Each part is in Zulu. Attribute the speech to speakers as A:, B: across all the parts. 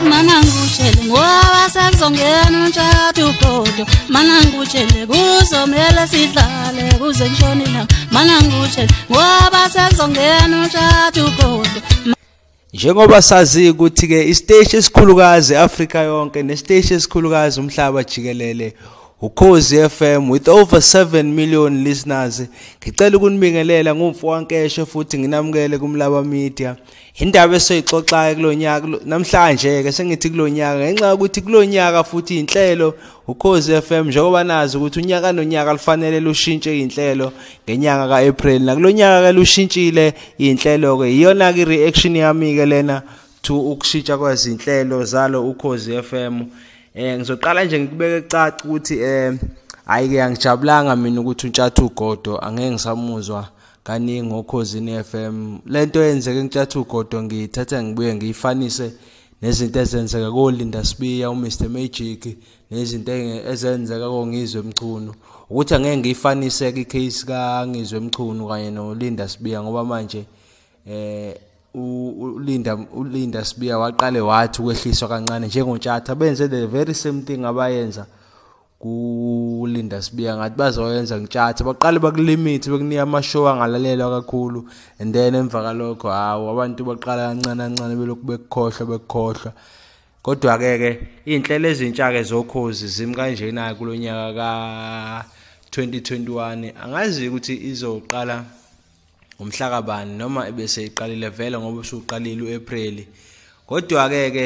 A: mana ngikutshele ngoba sekuzongena umtshato ubhodo mana ngikutshele kuzomele sidlale kuze ngishone ilanga mana ngikutshele ngoba sekuzongena umtshato ubhodo njengoba
B: sazi ukuthi-ke isiteshi esikhulukazi afrika yonke nesiteshi esikhulukazi umhlaba jikelele ukhozi FM with over 7 million listeners ngicela ukunibingelela ngumfo wankeshe futhi nginamukele kumlaba media indaba esoyixoxayo kulonyaka namhlanje ke sengithi kulonyaka ngenxa ukuthi kulonyaka futhi inhlelo ukhozi FM njengoba nazi ukuthi unyaka nonyaka lufanele lushintshe inhlelo ngenyanga kaApril nakulonyaka ke lushintshile inhlelo ke iyona ke reaction yami ke lena to ukushintsha kwezinhlelo zalo ukhozi FM eh ngizoqala nje ngikubeke caca ukuthi eh hayi ke angijabulanga mina ukuthi untshathu ugodo angeke ngisamuzwa kaningi okhozini FM lento eyenzeke eNklathu Godo ngiyithatha ngibuye ngiyifanise nezinto ezenzeka koLinda Sibiya uMr Magic nezinto ezenzeka koNgizwe Mchunu ukuthi angeke ngiyifanise ke icase kaNgizwe Mchunu kanye noLinda Sibiya ngoba manje eh uLinda uLinda Sibiya waqale wathi ukwehliswa kancane njengoNtshatha benze the very same thing abayenza kulinda sibiya ngathi bazoyenza ngitshathe baqale bakulimit bekunika amashow angalalelwa kakhulu and then emva kalokho hawu abantu baqala kancane kancane belokhu bekukhohlwa bekukhohlwa kodwa ke ke izinhlelo ezintsha ke zokhozi zimi kanjena kulonyaka ka 2021 angazi ukuthi izoqala ngomhlakabani noma ebese iqalile vele ngoba usuqalile uApril kodwa ke ke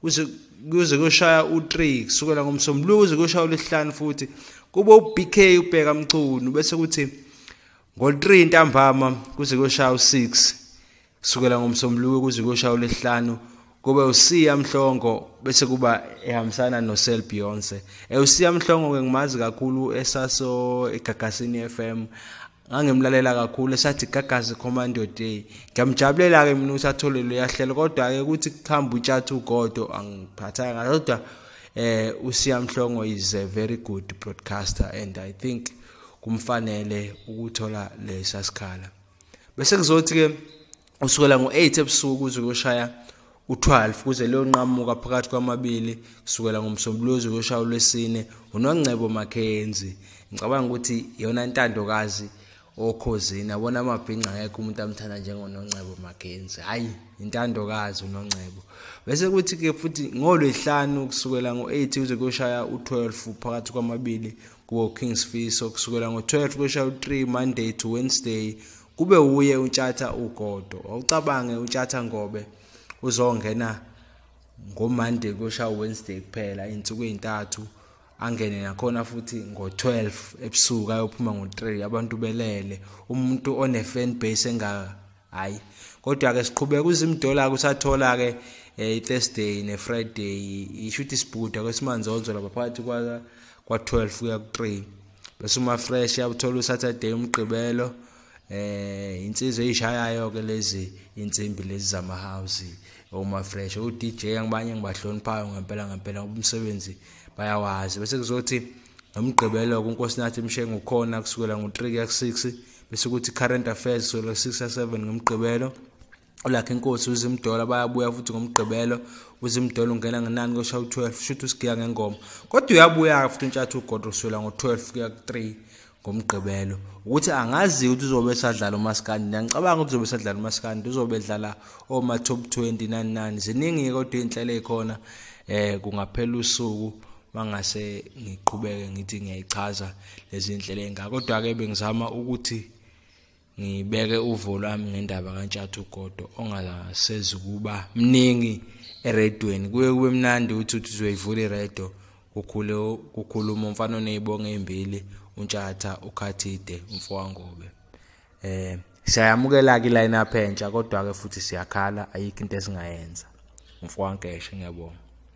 B: kuze kuze kushaya u3 kusukela ngomsombuluko kuze kushaya ulesihlanu futhi kube uBK ubheka mchunu bese kuthi ngo3 ntambama kuze kushaya u6 kusukela ngomsombuluko kuze kushaya ulesihlanu kube usiya mhlongo bese kuba ehambisana noSel Beyonce eusiya mhlongo ke ngimazi kakhulu esaso egagasini FM ngangimlalela kakhulu esathi gagazi commando day ngiyamjabulela-ke mina ukuthi athole loyahlelo kodwa-ke ukuthi kuhamba utshatha ugodo angiphathanga kodwa eh usiyamhlongo is a very good broadcaster and i think kumfanele ukuthola lesa sikhala bese kuzothi-ke usukela ngo-8 ebusuku kuze kuyoshaya u-12 kuze leyonqamuka phakathi kwamabili kusukela ngomsombuluko kuze kuyoshaya ulwesine unongcebo makhenzi ngicabanga ukuthi yona intandokazi okhozini abona amabhinca akekho umuntu amthanda njengonongcebo makhenzi hhayi intandokazi unongcebo bese kuthi-ke futhi ngolwehlanu kusukela ngo-8 kuze kuyoshaya u-12 phakathi kwamabili kuwo-kings fiso kusukela ngo-12 kuyoshaya u-3 monday to wednesday kube uye utshatha ugodo wawucabange utshatha ngobe uzongena ngomonday kosha wednesday kuphela iy'nsuku ey'ntathu angene nakhona futhi ngo-12 ebusuku ayophuma ngo-3 abantu belele umuntu one-fan base engaka hhayi kodwa-ke siqhubeka uzimdola kusathola-ke um i-thursday ne-friday isho ukuthi sibhuda kwesimanje onzola baphakathi kwa-12 kuya ku-3 bese uma fresh yabuthola usaturday umgqibelo eh insizwe eyishayayo ke lezi insimbi lezi zama house uma fresh u DJ angibanye ngibahloniphayo ngempela ngempela umsebenzi bayawazi bese kuzothi nomgqibelo kuNkosinathi Mshengu khona kusukela ngo3 kuya ku6 bese kuthi current affairs kusukela ku6 ya7 ngomgqibelo ulakhe inkosi uzimdola bayabuya futhi ngomgqibelo uzimdola ungena ngenani koshaya u-12 shuthi usigiya ngengoma kodwa uyabuya-ke futhi untshathi ugodwa uswela ngo-12 kuya ku-3 ngomgqibelo ukuthi angazi ukuthi uzobe esadlala umaskandi ngiyangicabanga ukuthi uzobe esadlala umaskandi uzobe edlala oma-top 20 nani nani ziningi-ke kodwa iy'nhlelo ey'khona um kungaphela usuku mangase ngiqhubeke ngithi ngiyayichaza lezi nhlelo engaka kodwa-ke bengizama ukuthi ngibeke uvo lwami ngendaba kantshatha ugodo ongasezi ukuba mningi eredweni kuye kube mnandi ukuthi uthi uzoyivula iredo kukhule kukhuluma umfana onezibongo ezimbili untshatha ukhathide umfowangobe eh siyayamukela ke line up entsha kodwa ke futhi siyakhala ayikho into esingayenza umfowankeshe ngiyabonga